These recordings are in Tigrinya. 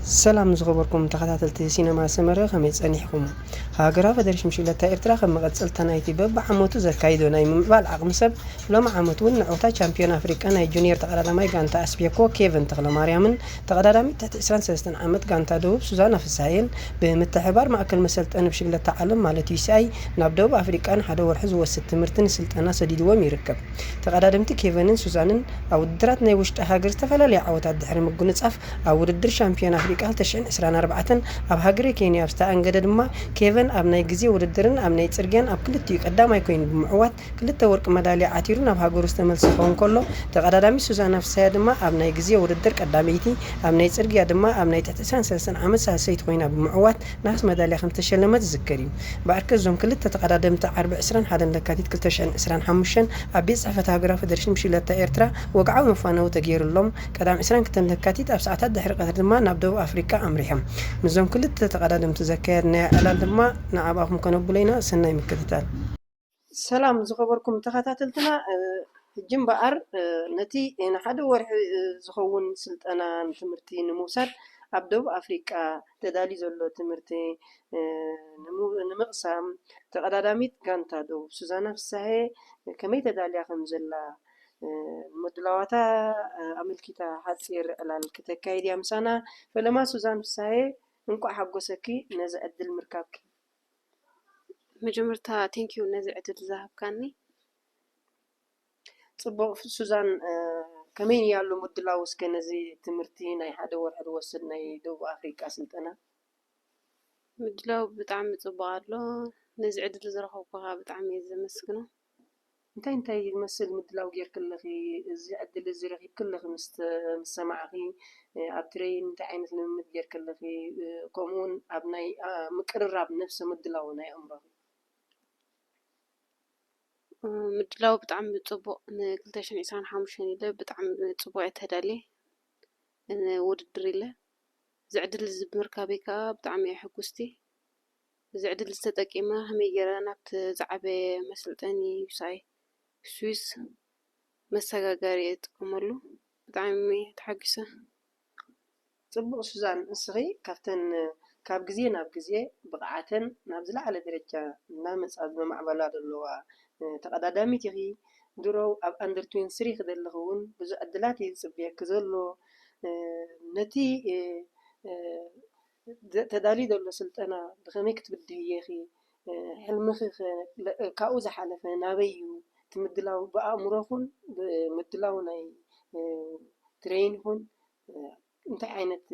ሰላም ዝኸበርኩም ተኸታተልቲ ሲነማ ሰመረ ከመይ ጸኒሕኩም? ሃገራዊ ፈደረሽን ብሽክለታ ኤርትራ ከም መቐጸልታ ናይቲ በብዓመቱ ዘካይዶ ናይ ምምዕባል ዓቕሚ ሰብ ሎሚ ዓመት እውን ንዕውታ ቻምፕዮን ኣፍሪቃ ናይ ጁንየር ተቐዳዳማይ ጋንታ ኣስቤኮ ኬቨን ተኽለማርያምን ተቐዳዳሚት ትሕቲ ዕስራን ሰለስተን ዓመት ጋንታ ደቡብ ሱዛና ፍስሃየን ብምትሕብባር ማእከል መሰልጠኒ ብሽክለታ ዓለም ማለት UCI ናብ ደቡብ ኣፍሪቃ ንሓደ ወርሒ ዝወስድ ትምህርትን ስልጠና ሰዲድዎም ይርከብ። ተቐዳደምቲ ኬቨንን ሱዛንን ኣብ ውድድራት ናይ ውሽጢ ሃገር ዝተፈላለያ ዓወታት ድሕሪ ምጉንጻፍ ኣብ ውድድር ሻምፒዮን ኣፍሪቃ ክልተ ሽሕን ዕስራን ኣርባዕተን ኣብ ሃገረ ኬንያ ኣብ ዝተኣንገደ ድማ፣ ኬቨን ኣብ ናይ ግዜ ውድድርን ኣብ ናይ ጽርግያን ኣብ ክልቲኡ ቀዳማይ ኰይኑ ብምዕዋት፣ ክልተ ወርቂ መዳልያ ዓቲሩ ናብ ሃገሩ ዝተመልሰ ክኸውን ከሎ፣ ተቐዳዳሚት ሱዛና ፍስሃያ ድማ ኣብ ናይ ግዜ ውድድር ቀዳመይቲ፣ ኣብ ናይ ጽርግያ ድማ ኣብ ናይ ትሕቲ ዕስራን ሰለስተን ዓመት ሳልሰይቲ ኰይና ብምዕዋት ነሃስ መዳልያ ከም ዝተሸለመት ዝዝከር እዩ። በኣርከ እዞም ክልተ ተቐዳደምቲ ዓርቢ ዕስራን ሓደን ለካቲት ክልተ ሽሕን ዕስራን ሓሙሽተን ኣብ ቤት ጽሕፈት ሃገራዊ ፈደረሽን ብሽክለታ ኤርትራ ወግዓዊ መፋነዊ ተገይሩሎም ቀዳም ዕስራን ክልተን ለካቲት ኣብ ሰዓታት ድሕሪ ቀትሪ ድማ ናብ ደቡብ ኣፍሪቃ ኣምሪሖም። ምስዞም ክልተ ተቐዳደምቲ ዘካየድናዮ ዕላል ድማ ንኣብኣኹም ከነብሎ ኢና። ሰናይ ምክትታል። ሰላም ዝኸበርኩም ተኸታተልትና ሕጂ እምበኣር ነቲ ንሓደ ወርሒ ዝኸውን ስልጠና ትምህርቲ ንምውሳድ ኣብ ደቡብ ኣፍሪቃ ተዳልዩ ዘሎ ትምህርቲ ንምቕሳም ተቐዳዳሚት ጋንታ ደቡብ ሱዛና ፍስሃየ ከመይ ተዳልያ ከምዘላ ምድላዋታ ኣመልኪታ ሓጺር ዕላል ክተካይድ እያ ምሳና። ፈለማ ሱዛን ፍስሃየ እንቋዕ ሓጎሰኪ ነዚ ዕድል ምርካብኪ። መጀመርታ thank you ነዚ ዕድል ዝሃብካኒ። ጽቡቕ ሱዛን ከመይ እያ ኣሎ ምድላው እስከ ነዚ ትምህርቲ ናይ ሓደ ወርሒ ዝወስድ ናይ ደቡብ ኣፍሪቃ ስልጠና? ምድላው ብጣዕሚ ጽቡቕ ኣሎ። ነዚ ዕድል ዝረኸብኩ ከኣ ብጣዕሚ እየ ዘመስግኖ። እንታይ እንታይ ዝመስል ምድላው ጌርኪ ኣለኺ? እዚ ዕድል እዚ ረኺብኪ ኣለኺ ምስ ዝሰማዕኺ ኣብ ትሬይን እንታይ ዓይነት ልምምድ ጌርኪ ኣለኺ? ከምኡ ውን ኣብ ናይ ምቅርራብ ነብሰ ምድላው ናይ ኣእምሮኺ? ምድላው ብጣዕሚ ፅቡቕ ን ክልተ ሽሕን ዕስራን ሓሙሽተን ኢለ ብጣዕሚ ፅቡቕ እየ ተዳልየ ንውድድር ኢለ። እዚ ዕድል እዚ ብምርካበይ ከዓ ብጣዕሚ እየ ሕጉስቲ። እዚ ዕድል እዚ ተጠቂመ ከመይ ገይረ ናብቲ ዝዓበየ መሰልጠኒ ውጻኢ ስዊስ መሰጋገሪ እጥቀመሉ ብጣዕሚ እየ ተሓጊሰ። ጽቡቕ ሱዛን ንስኺ ካብተን ካብ ግዜ ናብ ግዜ ብቕዓተን ናብ ዝለዓለ ደረጃ እናመጻ ዝመማዕበላ ዘለዋ ተቐዳዳሚት ኢኺ። ድሮ ኣብ ኣንደር ትዌንቲ ስሪ ክደለኺ እውን ብዙሕ ዕድላት እዩ ዝጽበየኪ ዘሎ። ነቲ ተዳልዩ ዘሎ ስልጠና ብኸመይ ክትብድህዮ ኢኺ? ሕልምኺ ከ ካብኡ ዝሓለፈ ናበይ እዩ? እቲ ምድላው ብኣእምሮ ይኹን ብምድላው ናይ ትሬን ይኹን እንታይ ዓይነት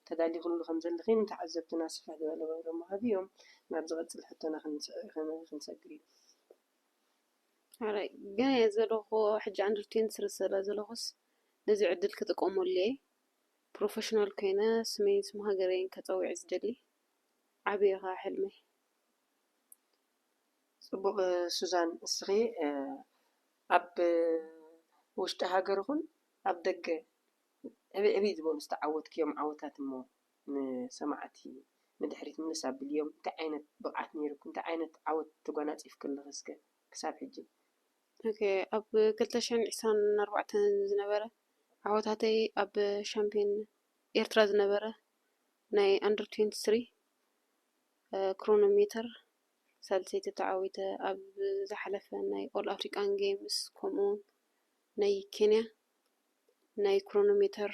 ተዳሊኽሉ ከም ዘለኺ ንተዓዘብትና ስፍሕ ዝበለ መብርሂ ምሃብ'ዮም። ናብ ዝቐጽል ሕቶና ክንሰግር እዩ። ሕራይ ገና እየ ዘለኹ ሕጂ ኣንደር ትዌንቲ ስለ ዘለኹስ ነዚ ዕድል ክጥቀመሉ እየ። ፕሮፈሽናል ኮይነ ስመይን ስም ሃገረይን ከጸዊዕ ዝደሊ ዓቢ እዩ ከኣ ሕልመይ። ጽቡቅ ሱዛን እስኺ ኣብ ውሽጢ ሃገር ይኹን ኣብ ደገ ዕብይ ዕብይ ዝበሉ ዝተዓወትክዮም ዓወታት እሞ ንሰማዕቲ ንድሕሪት ምልስ ኣብልዮም እንታይ ዓይነት ብቅዓት ኔሩኪ እንታይ ዓይነት ዓወት ተጓናጺፍኪ ኣለኺ እስከ ክሳብ ሕጂ ኣብ ክልተ ሽሕን ዕስራን ኣርባዕተን ዝነበረ ዓወታተይ ኣብ ሻምፕዮን ኤርትራ ዝነበረ ናይ ኣንደር ትዌንቲ ስሪ ክሮኖ ሜተር ሳልሰይቲ ተዓዊተ ኣብ ዝሓለፈ ናይ ኦል ኣፍሪካን ጌምስ ከምኡ ውን ናይ ኬንያ ናይ ክሮኖ ሜተር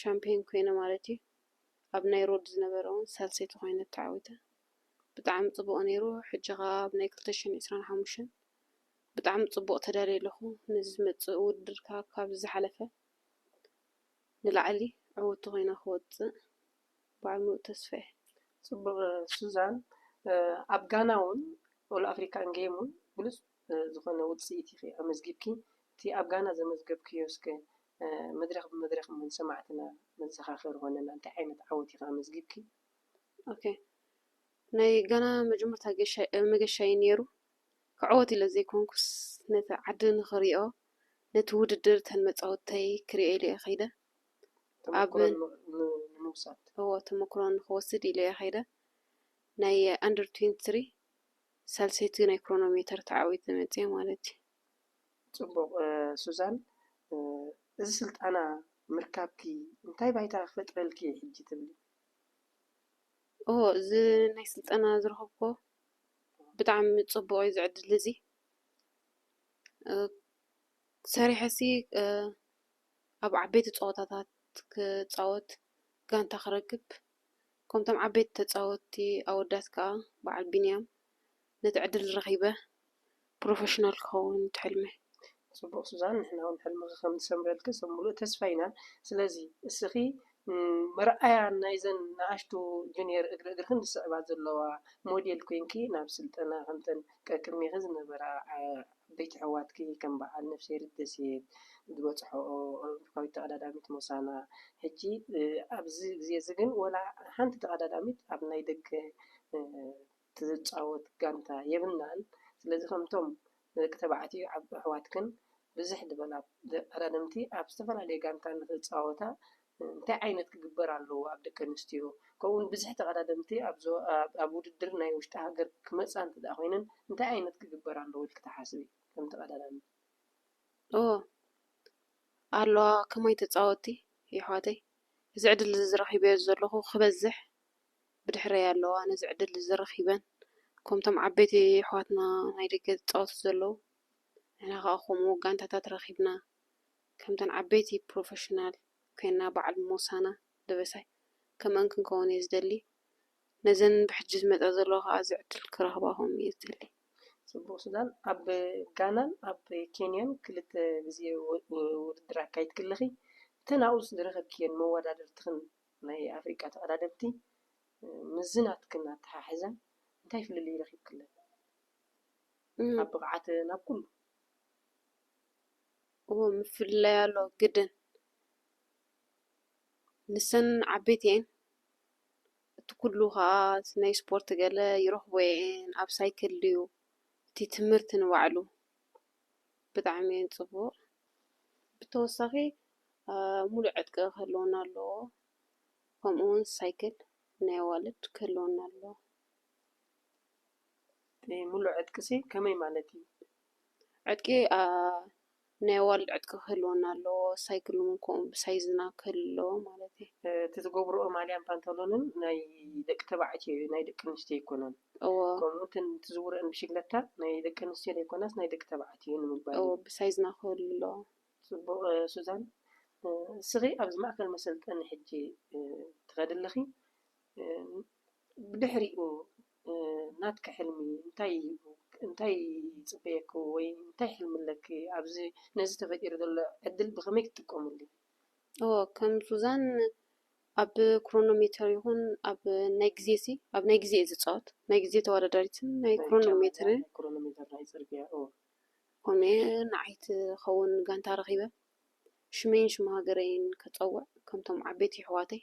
ሻምፕዮን ኮይነ ማለት እዩ። ኣብ ናይ ሮድ ዝነበረ ውን ሳልሰይቲ ኮይነ ተዓዊተ ብጣዕሚ ጽቡቅ ኔሩ ሕጂ ከኣ ኣብ ናይ ክልተ ሽሕን ዕስራን ሓሙሽተን ብጣዕሚ ጽቡቅ ተዳልየ ኣለኩ ነዚ ዝመጽእ ውድድር ከኣ ካብዚ ዝሓለፈ ንላዕሊ ዕውቲ ኮይነ ክወጽእ በዓል ምሉእ ተስፋ እየ። ጽቡቅ ሱዛን ኣብ ጋና ውን ኦል ኣፍሪካን ጌም ውን ብሉጽ ዝኾነ ውጽኢት ኢኺ ኣመዝጊብኪ፣ እቲ ኣብ ጋና ዘመዝገብክዮ እስከ መድረኽ ብመድረኽ እሞ ንሰማዕትና መዘኻኸሪ ኮነና፣ እንታይ ዓይነት ዓወት ኢኺ ኣመዝጊብኪ? ኦኬ ናይ ጋና መጀመርታ መገሻይ እዩ ነይሩ፣ ክዕወት ኢለ ዘይኮንኩስ ነቲ ዓዲ ንኽሪኦ ነቲ ውድድር እተን መጻወተይ ክሪኦ ኢለ እየ ከይደ፣ ተመኩሮ ንምውሳድ እዎ ተመኩሮ ንኽወስድ ኢለ እየ ከይደ፣ ናይ ኣንደር ትዌንቲ ትሪ ሳልሰይቲ ናይ ክሮኖሜተር ተዓዊተ መጺኣ ማለት እዩ። ጽቡቕ ሱዛን፣ እዚ ስልጣና ምርካብኪ እንታይ ባይታ ክፈጥረልኪ እዩ ሕጂ ትብሊ? እወ፣ እዚ ናይ ስልጠና ዝረኸብኩዎ ብጣዕሚ ጽቡቕ እዩ እዚ ዕድል እዚ። ሰሪሐሲ ኣብ ዓበይቲ ጸወታታት ክጻወት፣ ጋንታ ክረክብ፣ ከምቶም ዓበይቲ ተጻወቲ ኣወዳት ከኣ በዓል ቢንያም ነቲ ዕድል ረኺበ ፕሮፈሽናል ክኸውን እቲ ሕልመይ። ጽቡቅ ሱዛን ንሕና ውን ሕልምኺ ከም ዝሰምረልኪ ሰብ ምሉእ ተስፋ ኢና ስለዚ እስኺ መርኣያ ናይዘን ንኣሽቱ ጁንየር እግሪ እግርኽን ዝስዕባ ዘለዋ ሞዴል ኮንኪ ናብ ስልጠና ከምተን ቀቅድሜኺ ዝነበራ ዓበይቲ ኣሕዋትኪ ከም በዓል ነፍስሄር ደሴት ዝበጽሕኦ ኣውሮፓዊት ተቐዳዳሚት ሞሳና ሕጂ ኣብዚ ግዜ'ዚ ግን ወላ ሓንቲ ተቐዳዳሚት ኣብ ናይ ደገ ትጻወት ጋንታ የብልናን። ስለዚ ከምቶም ንደቂ ተባዕትዮ ኣሕዋትክን ብዝሕ ዝበላ ተቐዳደምቲ ኣብ ዝተፈላለየ ጋንታ ንኽጻወታ እንታይ ዓይነት ክግበር ኣለዎ ኣብ ደቂ ኣንስትዮ ከምኡ ውን ብዝሕ ተቀዳደምቲ ኣብ ውድድር ናይ ውሽጢ ሃገር ክመጻ እንተ ድኣ ኮይነን እንታይ ዓይነት ክግበር ኣለዎ ኢልኪ ትሓስቢ ከም ተቀዳዳሚት? እወ ኣለዋ ከማይ ተጻወቲ የሕዋተይ እዚ ዕድል እዚ ረኪበዮ ዘለኩ ክበዝሕ ብድሕረይ ኣለዋ ነዚ ዕድል እዚ ረኪበን ከምቶም ዓበይቲ የሕዋትና ናይ ደገ ዝጻወቱ ዘለዉ ንሕና ከኣ ከምኡ ጋንታታት ረኪብና ከምተን ዓበይቲ ፕሮፈሽናል ኮይና በዓል ሞሳና ደበሳይ ከምኣን ክንከውን እየ ዝደሊ ነዘን ብሕጂ ዝመጻ ዘለዋ ከኣ እዚ ዕድል ክረክባሆም እየ ዝደሊ። ጽቡቅ ሱዛን ኣብ ጋናን ኣብ ኬንያን ክልተ ግዜ ውድድር ኣካይድኪ ኣለኺ እተን ኣብኡ ዝረኸብክየን መወዳድርትኽን ናይ ኣፍሪቃ ተቀዳደምቲ ምስዚ ናትክን ኣተሓሕዘን እንታይ ፍልልይ ረኺብክለን ኣብ ብቅዓተን ኣብ ኩሉ? እወ ምፍልላይ ኣሎ ግድን ንሰን ዓበይቲ እየን እቲ ኩሉ ከዓ ናይ ስፖርት ገለ ይረክቦ እየን ኣብ ሳይክል ድዩ እቲ ትምህርቲ ንባዕሉ ብጣዕሚ እዩ ፅቡቅ ብተወሳኪ ሙሉእ ዕጥቂ ክህልወና ኣለዎ ከምኡ እውን ሳይክል ናይ ኣዋልድ ክህልወና ኣለዎ። ሙሉእ ዕጥቂ ሲ ከመይ ማለት እዩ? ዕጥቂ ናይ ኣዋልድ ዕጥቂ ክህልወና ኣለዎ ሳይክል እውን ከምኡ ብሳይዝና ክህሉ ኣለዎ ማለት እየ። እቲ ዝገብርኦ ማልያን ፓንታሎንን ናይ ደቂ ተባዕትዮ እዩ ናይ ደቂ ኣንስትዮ ኣይኮነን። እወ ከምኡ እውን እተን ትዝውረኣን ብሽግለታ ናይ ደቂ ኣንስትዮ ዘይኮናስ ናይ ደቂ ተባዕትዮ እየን ንምባል እወ እዩ። ብሳይዝና ክህሉ ኣለዎ። ጽቡቕ ሱዛን እስኺ ኣብዚ ማእከል መሰልጠኒ ሕጂ ትኸዲ ኣለኺ ብድሕሪኡ ናትኪ ሕልሚ እንታይ እዩ? እንታይ ይጽበየኪ ወይ እንታይ ሕልሚ ኣለኪ? ኣብዚ ነዚ ተፈጢሩ ዘሎ ዕድል ብኸመይ ክትጥቀምሉ? እወ ከም ሱዛን ኣብ ክሮኖ ሜተር ይኹን ኣብ ናይ ግዜ ሲ ኣብ ናይ ግዜ እየ ዝጻወት ናይ ግዜ ተወዳዳሪትን ናይ ክሮኖ ሜትር ክሮኖ ሜተር ናይ ጽርግያ እወ ኮነ ንዓይ ትኸውን ጋንታ ረኺበ ሽመይን ሽም ሃገረይን ከጸውዕ ከምቶም ዓበይቲ የሕዋተይ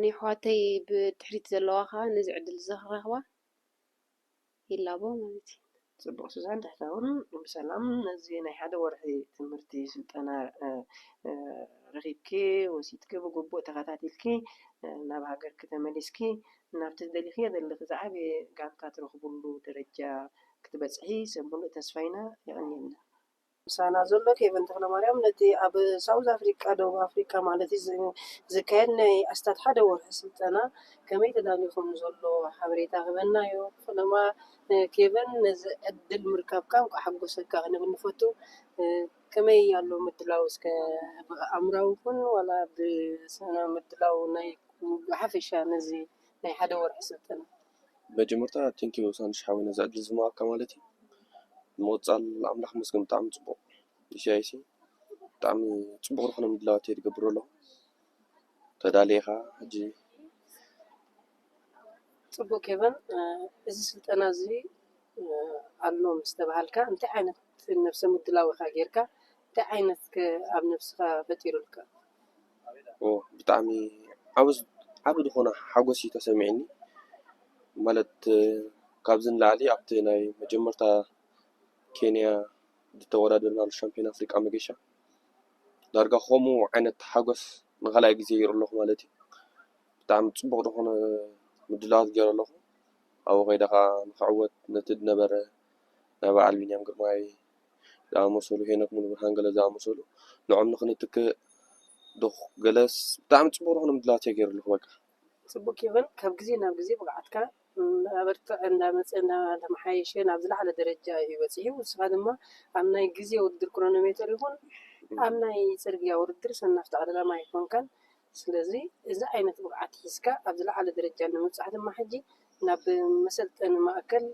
ንየሕዋተይ ብድሕሪት ዘለዋ ከኣ ነዚ ዕድል እዚ ክረኽባ ይላቦ ማለት እዩ። ጽቡቅ ሱዛን ትሕተ ውን ብሰላም ነዚ ናይ ሓደ ወርሒ ትምህርቲ ስልጠና ረኪብኪ ወሲድኪ ብግቡእ ተከታቲልኪ ናብ ሃገርኪ ተመሊስኪ ናብቲ ዝደሊክዮ ዘለኪ ዝዓበየ ጋንታ ትረክብሉ ደረጃ ክትበጽሒ ሰብ ሙሉእ ተስፋ ኢና የቀንየልና ምሳና ዘሎ ኬቨን ተኽለማርያም ነቲ ኣብ ሳውዝ ኣፍሪቃ፣ ደቡብ ኣፍሪቃ ማለት እዩ፣ ዝካየድ ናይ ኣስታት ሓደ ወርሒ ስልጠና ከመይ ተዳልዩ ከም ዘሎ ሓበሬታ ክህበና'ዩ። ፈለማ ኬቨን ነዚ ዕድል ምርካብካ እንቋዕ ሓጎሰካ ክንብል ንፈቱ። ከመይ ኣሎ ምድላው እስከ ብኣእምራዊ ይኹን ዋላ ብስነ ምድላው ናይ ብሓፈሻ ነዚ ናይ ሓደ ወርሒ ስልጠና? መጀመርታ ቴንክ ዩ ሳንድሽ ሓወይ ነዚ ዕድል እዚ ምሃብካ ማለት እዩ ብምቕፃል ኣምላኽ ይመስገን ብጣዕሚ ፅቡቕ ኢሳይያስ እዩ ብጣዕሚ ፅቡቕ ዝኾነ ምድላዋት እዩ ዝገብር ዘሎ ተዳልየ ኢኻ ሕጂ ፅቡቅ ኬቨን እዚ ስልጠና እዚ ኣሎ ምስ ተባሃልካ እንታይ ዓይነት ነብሰ ምድላው ኢኻ ጌርካ እንታይ ዓይነት ከ ኣብ ነብስኻ ፈጢሩልካ ብጣዕሚ ዓቢ ዝኾነ ሓጎስ እዩ ተሰሚዕኒ ማለት ካብዚ ንላዕሊ ኣብቲ ናይ መጀመርታ ኬንያ ዝተወዳደርናሉ ሻምፕዮን ኣፍሪቃ መገሻ ዳርጋ ከምኡ ዓይነት ሓጎስ ንካልኣይ ግዜ ይርኢ ኣለኹ ማለት እዩ ብጣዕሚ ጽቡቕ ዝኾነ ምድላዋት ገይረ ኣለኹ ኣብኡ ከይደ ከኣ ንኽዕወት ነቲ ዝነበረ ናይ በዓል ቢንያም ግርማይ። ዝኣመሰሉ ሄኖክ ሙሉብርሃን ገለ ዝኣመሰሉ ንዖም ንክንትክእ ዶ ገለስ ብጣዕሚ ጽቡቅ ዝኮነ ምድላዋት ተገይሩ ኣለኩ በቃ። ጽቡቅ ኬቨን ካብ ግዜ ናብ ግዜ ብቅዓትካ እናበርተዐ እንዳመጸ እንዳተመሓየሸ ናብ ዝለዓለ ደረጃ እዩ በጺሑ ንስኻ ድማ ኣብ ናይ ግዜ ውድድር ክሮኖሜተር ይኹን ኣብ ናይ ጽርግያ ውድድር ሰናፍ ጠቅላላ ማይ ኣይኮንካን ስለዚ እዚ ዓይነት ብቕዓት ሒዝካ ኣብ ዝለዓለ ደረጃ ንምብጻሕ ድማ ሕጂ ናብ መሰልጠኒ ማእከል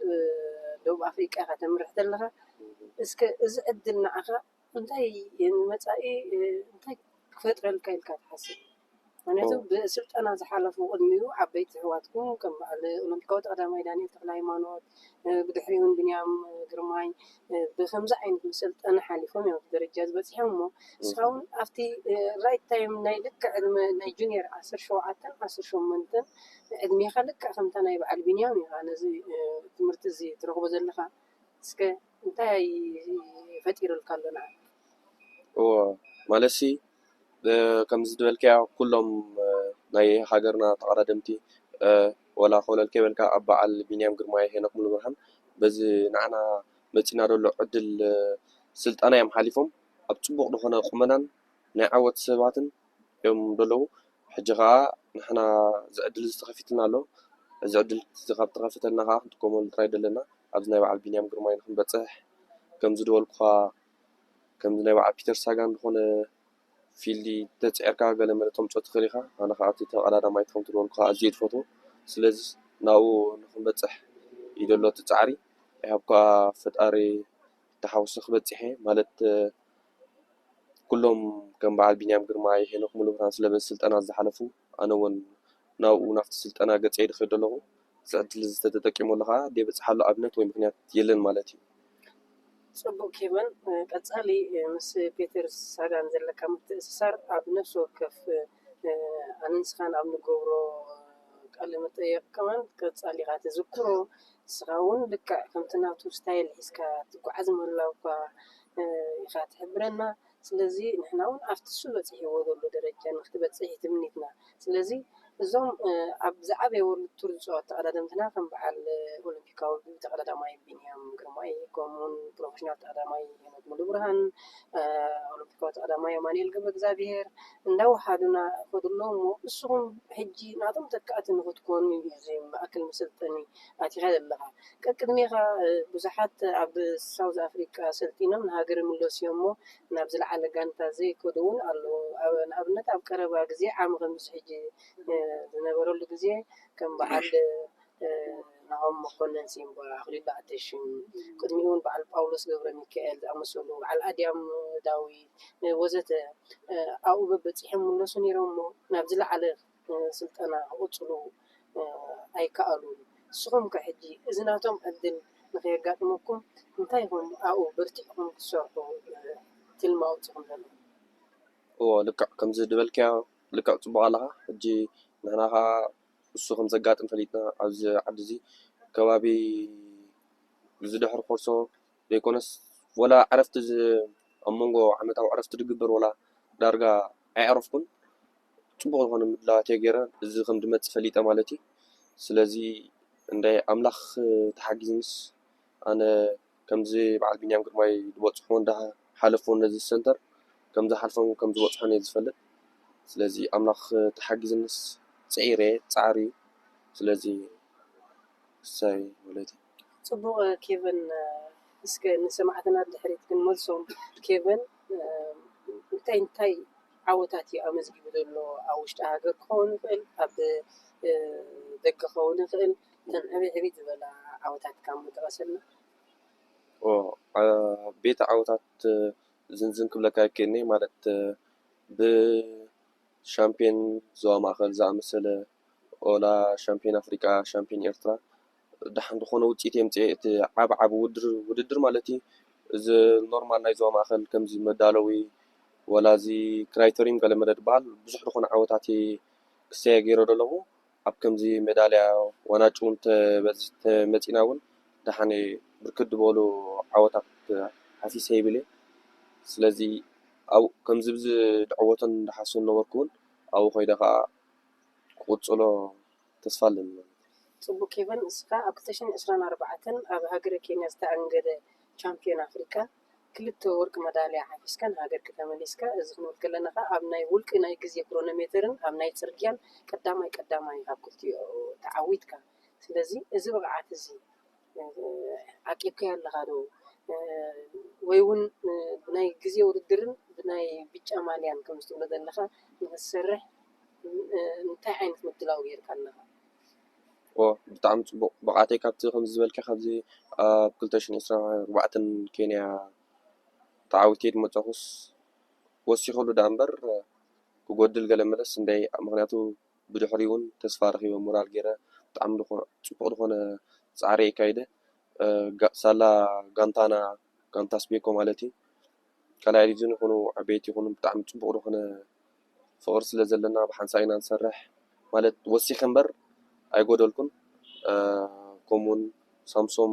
ደቡብ ኣፍሪቃ ኢኻ ተምርሕ ዘለኻ። እስከ እዚ ዕድል ንዓኻ እንታይ ንመጻኢ እንታይ ክፈጥረልካ ኢልካ ትሓስብ? ምኽንያቱ ብስልጠና ዝሓለፉ ቅድሚኡ ዓበይቲ ኣሕዋትኩም ከም በዓል ኦሎምፒካዊት ቀዳማይ ዳንኤል ተኽለሃይማኖት ብድሕሪኡ ውን ብንያም ግርማይ ብከምዚ ዓይነት መሰልጠኒ ሓሊፎም እዮም ኣብዚ ደረጃ እዚ በጺሖም እሞ ንስኻ እውን ኣብቲ ራይት ታይም ናይ ልክዕ ዕድመ ናይ ጁንየር ዓሰርተ ሸውዓተን ዓሰርተ ሸሞንተን ዕድሜኻ ልክዕ ከምታ ናይ በዓል ቢንያም ኢኻ ነዚ ትምህርቲ እዚ ትረኽቦ ዘለኻ እስከ እንታይ ፈጢሩልካ ኣሎ ንዓኻ እዎ ማለትሲ ከምዚ ዝበልካዮ ኩሎም ናይ ሃገርና ተቀዳደምቲ ዋላ ኮለል ከይበልካ ኣብ በዓል ቢንያም ግርማይ ሄኖክ ሙሉብርሃን በዚ ንዓና መጺና ዘሎ ዕድል ስልጠና እዮም ሓሊፎም ኣብ ጽቡቅ ዝኮነ ቁመናን ናይ ዓወት ሰባትን እዮም ዘለዉ ሕጂ ከኣ ንሕና እዚ ዕድል እዚ ተከፊቱልና ኣሎ እዚ ዕድል እዚ ካብ ዝተከፈተልና ከኣ ክንጥቀመሉ ጥራይ እዩ ዘለና ኣብዚ ናይ በዓል ቢንያም ግርማይ ንክንበጽሕ ከምዚ ዝበልኩካ ከምዚ ናይ በዓል ፒተር ሳጋን ዝኾነ ፊልዲ እንተጽዒርካ ገለ መለ ተምጽኦ ትኽእል ኢኻ። ኣነ ከኣ እቲ ተቐዳዳማይ ከምቲ ዝበልኩኻ ኣዝየ እየ ዝፈትዎ። ስለዚ ናብኡ ንኽንበጽሕ እዩ ዘሎ እቲ ጻዕሪ። ኣይ ሆፕ ከኣ ፈጣሪ ተሓጉሱ ክበጽሕ እየ። ማለት ኩሎም ከም በዓል ቢንያም ግርማይ፣ ሄኖክ ሙሉብርሃን ስለበዚ ስልጠና ዝሓለፉ፣ ኣነ ውን ናብኡ ናብቲ ስልጠና ገጸይ ኢሉ ክኸይድ ኣለኹ። እዚ ዕድል እዚ ተተጠቂመሉ ከኣ ደይበጽሓሉ ኣብነት ወይ ምክንያት የለን ማለት እዩ። ጽቡቕ ኬቨን፣ ቀጻሊ ምስ ፔተር ሳጋን ዘለካ ምትእስሳር ኣብ ነፍሲ ወከፍ ኣነ ንስኻን ኣብ ንገብሮ ቃለ መጠየቕ ከማን ቀጻሊ ኢኻ ተዝክሮ ንስኻ ውን ልክዕ ከምቲ ናቱ ስታይል ሒዝካ ትጉዓዝ ምህላውካ ኢኻ ትሕብረና። ስለዚ ንሕና ውን ኣብቲ ንሱ በጺሕዎ ዘሎ ደረጃ ንክትበጽሕ እዩ ትምኒትና ስለዚ እዞም ኣብ ዝዓበየ ወርልድ ቱር ዝጻወቱ ተቐዳደምትና ከም በዓል ኦሎምፒካዊ ተቐዳዳማይ ቢንያም ግርማይ ከምኡ ውን ፕሮፈሽናል ተቐዳዳማይ ሄኖክ ሙሉብርሃን ኦሎምፒካዊ ተቐዳዳማይ ኣማኑኤል ገብረእግዚኣብሄር እንዳወሓዱና ይኸዱ ኣለዉ እሞ ንስኹም ሕጂ ናቶም ተካእቲ ንክትኮኑ እዩ እዚ ማእከል መሰልጠኒ ኣቲኻ ዘለኻ ቀቅድሜኻ ብዙሓት ኣብ ሳውዝ ኣፍሪቃ ሰልጢኖም ንሃገር ይምለሱ'ዮም'ሞ ናብ ዝለዓለ ጋንታ ዘይከዱ'ውን ኣለዉ። ንኣብነት ኣብ ቀረባ ግዜ ዓሚ ከምዚ ሕጂ ዝነበረሉ ግዜ ከም በዓል ናሆም መኮነን፣ ሲምባ፣ ኣኽሊሉ ኣተሽም ቅድሚኡ'ውን በዓል ጳውሎስ ገብረሚካኤል ዝኣመሰሉ በዓል ኣድያም ዳዊት ወዘተ ኣብኡ በበጺሖም ይምለሱ ነይሮም'ሞ ናብ ዝለዓለ ስልጠና ክቕፅሉ ኣይከኣሉን። ንስኹም ከ ሕጂ እዚ ናቶም ዕድል ንከየጋጥመኩም እንታይ ኢኹም ኣብኡ በርቲዕኩም ክትሰርሑ ትልሚ ኣውፂእኹም ዘለኹም? እወ ልክዕ ከምዚ ዝበልካዮ ልክዕ ፅቡቕ ኣለኻ። ሕጂ ንሕና ከኣ እሱ ከም ዘጋጥም ፈሊጥና ኣብዚ ዓዲ እዚ ከባቢ ዝድሕሪ ኮርሶ፣ ዘይኮነስ ወላ ዕረፍቲ ኣብ መንጎ ዓመታዊ ዕረፍቲ ዝግበር ወላ ዳርጋ ኣይዕረፍኩን ጽቡቕ ዝኾነ ምድላዋት እየ ጌረ እዚ ከም ዝመጽእ ፈሊጠ ማለት እዩ ስለዚ እንዳ ኣምላኽ ተሓጊዝንስ ኣነ ከምዚ በዓል ቢንያም ግርማይ ዝበጽሖ እንዳ ሓለፎ ነዚ ሰንተር ከም ዝሓልፎን ከም ዝበጽሖን እየ ዝፈልጥ ስለዚ ኣምላኽ ተሓጊዝንስ ጽዒረ ጻዕሪ እዩ ስለዚ እሰይ ወለተይ ጽቡቅ ኬቨን እስከ ንሰማዕትና ድሕሪት ክንመልሶም ኬቨን እንታይ እንታይ ዓወታት እዩ ኣመዝጊቡ ዘሎ ኣብ ውሽጢ ሃገር ክኸውን ይኽእል ኣብ ደገ ክኸውን ይኽእል እተን ዕብይ ዕብይ ዝበላ ዓወታትካ እሞ ጥቐሰልና። ዓበይቲ ዓወታት ዝንዝን ክብለካ ኣይክእልን እየ ማለት ብሻምፕዮን ዞባ ማእከል ዝኣመሰለ ኦላ ሻምፕዮን ኣፍሪቃ ሻምፕዮን ኤርትራ ደሓን ዝኾነ ውፅኢት የምፅኤ እቲ ዓብ ዓብ ውድድር ማለት እዩ። እዚ ኖርማል ናይ ዞባ ማእኸል ከምዚ መዳለዊ ወላ እዚ ክራይተሪን ገለ መለ ዝበሃል ብዙሕ ዝኾነ ዓወታት እየ ክሰየ ገይረ ዶ ኣለኹ። ኣብ ከምዚ መዳልያ ዋናጩ እውን ተመፂእና እውን ደሓን ብርክት ዝበሉ ዓወታት ሓፊሰ ይብል እየ። ስለዚ ኣብኡ ከምዚ ዝዕወተን ዝሓስበን ዝነበርኩ እውን ኣብኡ ከይደ ከዓ ክቕፅሎ። ተስፋ ኣለኒ ማለት እዩ። ጽቡቕ ኬቨን እስካ ኣብ ክልተ ሽሕን ዕስራን ኣርባዕተን ኣብ ሃገረ ኬንያ ዝተኣንገደ ቻምፕዮን ኣፍሪቃ ክልተ ወርቂ መዳልያ ሓፊስካ ንሃገርኪ ተመሊስካ እዚ ክንብል ከለና ከኣ ኣብ ናይ ውልቂ ናይ ግዜ ክሮኖሜተርን ኣብ ናይ ጽርግያን ቀዳማይ ቀዳማይ ኣብ ክልቲኡ ተዓዊትካ ስለዚ እዚ ብቕዓት እዚ ዓቂብካዮ ኣለኻ ዶ ወይ ውን ብናይ ግዜ ውድድርን ብናይ ብጫ ማልያን ከምዚ ትብሎ ዘለኻ ንኽትሰርሕ እንታይ ዓይነት ምድላው ጌርካ ኣለኻ? ዋው ብጣዕሚ ጽቡቕ ብቕዓተይ ካብቲ ከምዚ ዝበልካዮ ካብዚ ኣብ ክልተ ሽሕን ዕስራን ኣርባዕተን ኬንያ ተዓዊተ ድመጻኹስ ወሲኸሉ ደኣ እምበር ክጎድል ገለ መለስ እንድየ ምኽንያቱ ብድሕሪኡ ውን ተስፋ ረኪበ ሞራል ጌረ ብጣዕሚ ጽቡቅ ዝኮነ ጻዕሪ ኣካይደ ሳላ ጋንታና ጋንታ ስቤኮ ማለት እዩ ካልኣይ ዲቭዝን ይኩኑ ዓበይቲ ይኩኑ ብጣዕሚ ጽቡቅ ዝኮነ ፍቅሪ ስለ ዘለና ብ ሓንሳእ ኢና ንሰርሕ ማለት ወሲከ እምበር ኣይጎደልኩን ከምኡ ውን ሳምሶም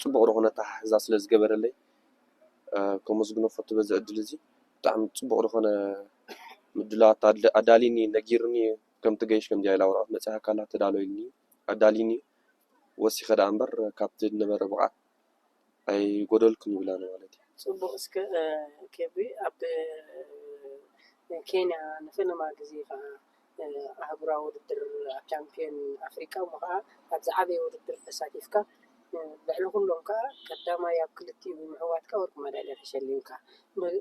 ጽቡቅ ዝኮነ ኣተሓሕዛ ስለ ዝገበረለይ ከመስግኖ እፈቱ በዚ ዕድል እዚ ብጣዕሚ ጽቡቅ ዝኮነ ምድላዋት ኣዳልዩኒ እዩ ነጊሩኒ እዩ ከምቲ ገይሽ ከምዚኣ ኢላ ወረቐት መጺኣካላ ተዳሎይኒ እዩ ኣዳልዩኒ እዩ ወሲኸ ደኣ እምበር ካብቲ ዝነበረ ብቕዓት ኣይጎደልኩን ይብላ ንማለት እዩ። ጽቡቅ እስከ ኬቢ ኣብ ኬንያ ንፈለማ ግዜ ከኣ ኣህጉራዊ ውድድር ኣብ ቻምፕዮን ኣፍሪቃ እሞ ከኣ ኣብ ዝዓበየ ውድድር ተሳቲፍካ ልዕሊ ኩሎም ከኣ ቀዳማይ ኣብ ክልቲኡ ብምዕዋትካ ወርቂ መዳልያ ተሸሊምካ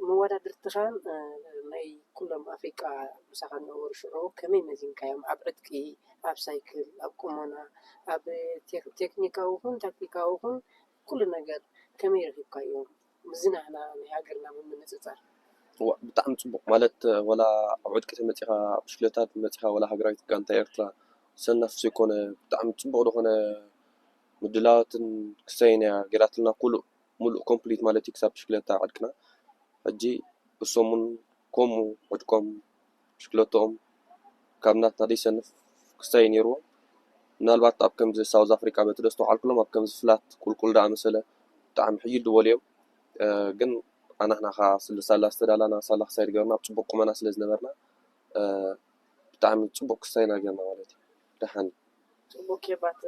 መወዳድርትኻን ናይ ኩሎም ኣፍሪቃ ምሳኻ ዝነበሩ ሽዑ ከመይ መዚንካዮም ኣብ ዕጥቂ ኣብ ሳይክል ኣብ ቁመና ኣብ ቴክኒካዊ ይኹን ታክቲካዊ ይኹን ኩሉ ነገር ከመይ ረኺብካዮም? ምስዚ ናህና ናይ ሃገርና ብምንጽጻር። ዋእ ብጣዕሚ ጽቡቅ ማለት ወላ ኣብ ዕጥቂ ተመጺካ ብሽክለታ ተመጺካ ወላ ሃገራዊት ጋንታ ኤርትራ ሰናፍ ዘይኮነ ብጣዕሚ ጽቡቅ ድኮነ ምድላዋትን ክሳይን ኢያ ጌራትልና ኩሉእ ሙሉእ ኮምፕሊት ማለት ኢዩ ክሳብ ብሽክለታ ዕጥቅና ሕጂ እሶሙን ኮሙ ዕጥቆም ብሽክለትኦም ካብ ናትና ደይሰንፍ ክስታይ ኔርዎም ምናልባት ኣብ ከምዚ ሳውዝ ኣፍሪቃ በቲ ደስተውዓልኩሎም ኣብ ከምዚ ፍላት ቁልቁል ደኣ መሰለ ብጣዕሚ ሕይል ድበሉ እዮም ግን ኣናህና ከኣ ስለ ሳላ ዝተዳላና ሳላ ክሳይ ድገርና ኣብ ጽቡቅ ቁመና ስለ ዝነበርና ብጣዕሚ ጽቡቅ ክስታይ ኢና ጌርና ማለት እዩ ደሓን እዩ ጽቡቅ ኬባት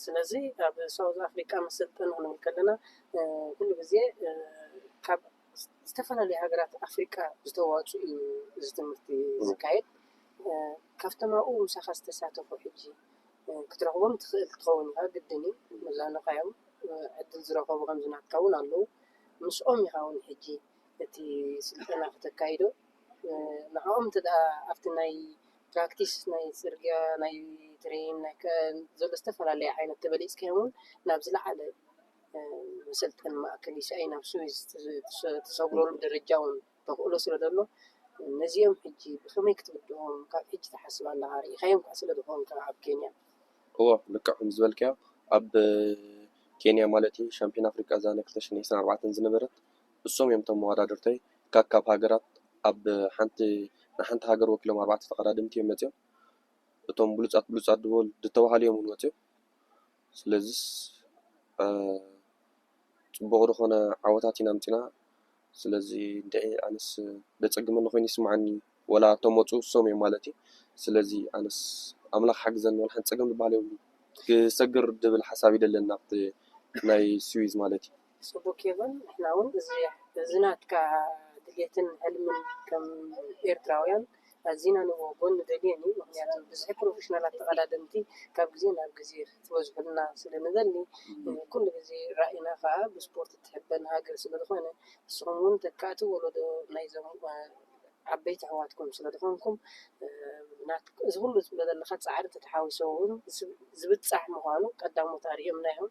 ስለዚ ኣብ ሳውዝ ኣፍሪቃ መሰልጠኒ ክንብል ከለና ኩሉ ግዜ ካብ ዝተፈላለዩ ሃገራት ኣፍሪቃ ዝተዋፅኡ እዩ እዚ ትምህርቲ ዝካየድ። ካብቶም ኣብኡ ምሳኻ ዝተሳተፉ ሕጂ ክትረኽቦም ትኽእል ክትኸውን ኢኻ ግድን እዩ። መዝናንኻ'ዮም ዕድል ዝረኸቡ ከምዚ ናትካ እውን ኣለዉ። ምስኦም ኢኻ እውን ሕጂ እቲ ስልጠና ክተካይዶ ንዕኦም እንተድኣ ኣብቲ ናይ ፕራክቲስ ናይ ፅርግያ ናይ ትሬን ናይ ዝተፈላለዩ ዓይነት ተበሊፅካዮም እውን ናብ ዝለዓለ። መሰልጠኒ ማእከል ኢሳይ ናብ ስዊዝ ተሰግረሉ ደረጃ እውን ተኽእሎ ስለ ዘሎ ነዚኦም ሕጂ ብኸመይ ክትብድኦም ካብ ሕጂ ትሓስብ ኣለኻ? ርኢኻዮም ከኣ ስለ ዝኾንካ ኣብ ኬንያ። እወ ልክዕ ከም ዝበልካዮ ኣብ ኬንያ ማለት እዩ ሻምፒዮን ኣፍሪቃ እዛ ናይ ክልተ ሽሕን ዕስራን ኣርባዕተን ዝነበረት እሶም እዮም እቶም መወዳድርተይ ካካብ ሃገራት ኣብ ሓንቲ ንሓንቲ ሃገር ወኪሎም ኣርባዕተ ተቐዳደምቲ እዮም መጺኦም እቶም ብሉጻት ብሉጻት ድበሉ ድተባሃሉ እዮም እውን መጺኦም ስለዝስ ፅቡቅ ዝኮነ ዓወታት ኢና ኣምፂና ስለዚ እንድዒ ኣነስ ዘፀግመኒ ኮይኑ ይስመዓኒ ወላ እቶም ወፁ እሶም እዮም ማለት እዩ ስለዚ ኣነስ ኣምላክ ሓግዘኒ ወላ ሓንቲ ፀገም ዝባሃል የብሉን ክሰግር ዝብል ሓሳብ እዩ ደለኒ ናብቲ ናይ ስዊዝ ማለት እዩ። ጽቡክ ይኩን ንሕና ውን እዚ ናትካ ድልየትን ሕልምን ከም ኤርትራውያን ኣዚና ንብህጎን ንደልዮን እዩ ምክንያቱ ብዝሒ ፕሮፈሽናላት ተቀዳደምቲ ካብ ግዜ ናብ ግዜ ክትበዝሑልና ስለ ንደሊ ኩሉ ግዜ ራኢና ከኣ ብስፖርት ትሕበን ሃገር ስለ ዝኮነ ንስኩም ውን ተካእቲ ወለዶ ናይዞም ዓበይቲ ኣሕዋትኩም ስለ ዝኮንኩም እዚ ኩሉ ትብሎ ዘለካ ጻዕሪ ተተሓዊሱ ውን ዝብጻሕ ምኳኑ ቀዳሞት ኣርእዮምና እዮም።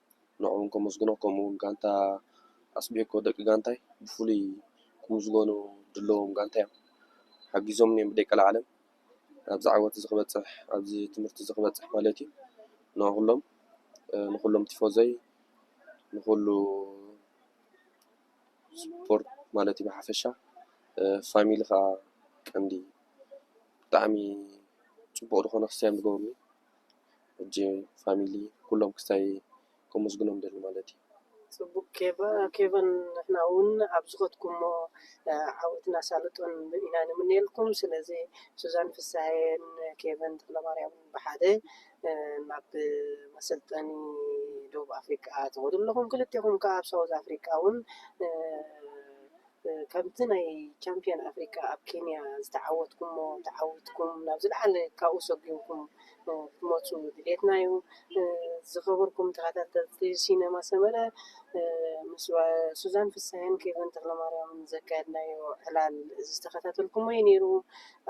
ንዕኦም ከመስግኖ ከምኡ ውን ጋንታ ኣስቤኮ ደቂ ጋንታይ ብፍሉይ ክምስገኑ ድለዎም ጋንታ እዮም ሓጊዞምኒ እዮም ብደይ ቀልዓለም ኣብዚ ዓወት እዚ ክበጽሕ ኣብዚ ትምህርቲ እዚ ክበጽሕ ማለት እዩ ንኹሎም ንኹሎም ቲፎዘይ ንኹሉ ስፖርት ማለት እዩ ብሓፈሻ ፋሚሊ ከዓ ቀንዲ ብጣዕሚ ጽቡቕ ዝኾነ ክስትያን ዝገብሩኒ ሕጂ ፋሚሊ ኩሎም ክሳይ ከመስግኖም እደሊ ማለት እዩ። ጽቡቅ ኬቨን ንሕና ውን ኣብ ዝኸድኩሞ ዓወትን ኣሳልጦን ኢና ንምነየልኩም ስለዚ ሱዛን ፍስሃየን ኬቨን ተኽለማርያምን ብሓደ ናብ መሰልጠኒ ደቡብ ኣፍሪቃ ትኸዱ ኣለኹም ክልቴኹም ከኣ ኣብ ሳውዝ ኣፍሪቃ ውን ካብቲ ናይ ቻምፕዮን ኣፍሪቃ ኣብ ኬንያ ዝተዓወትኩሞ ተዓዊትኩም ናብ ዝለዓለ ካብኡ ሰጒምኩም ክትመጹ ድሌትና'ዩ። ዝኸበርኩም ተኸታተልቲ ሲነማ ሰመረ ምስ ሱዛን ፍስሃየን ኬቨን ተኽለማርያምን ዘካየድናዮ ዕላል ዝተኸታተልኩሞ'ዩ ኔሩ።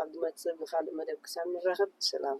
ኣብ ዝመጽእ ብኻልእ መደብ ክሳብ ንራኸብ ሰላም።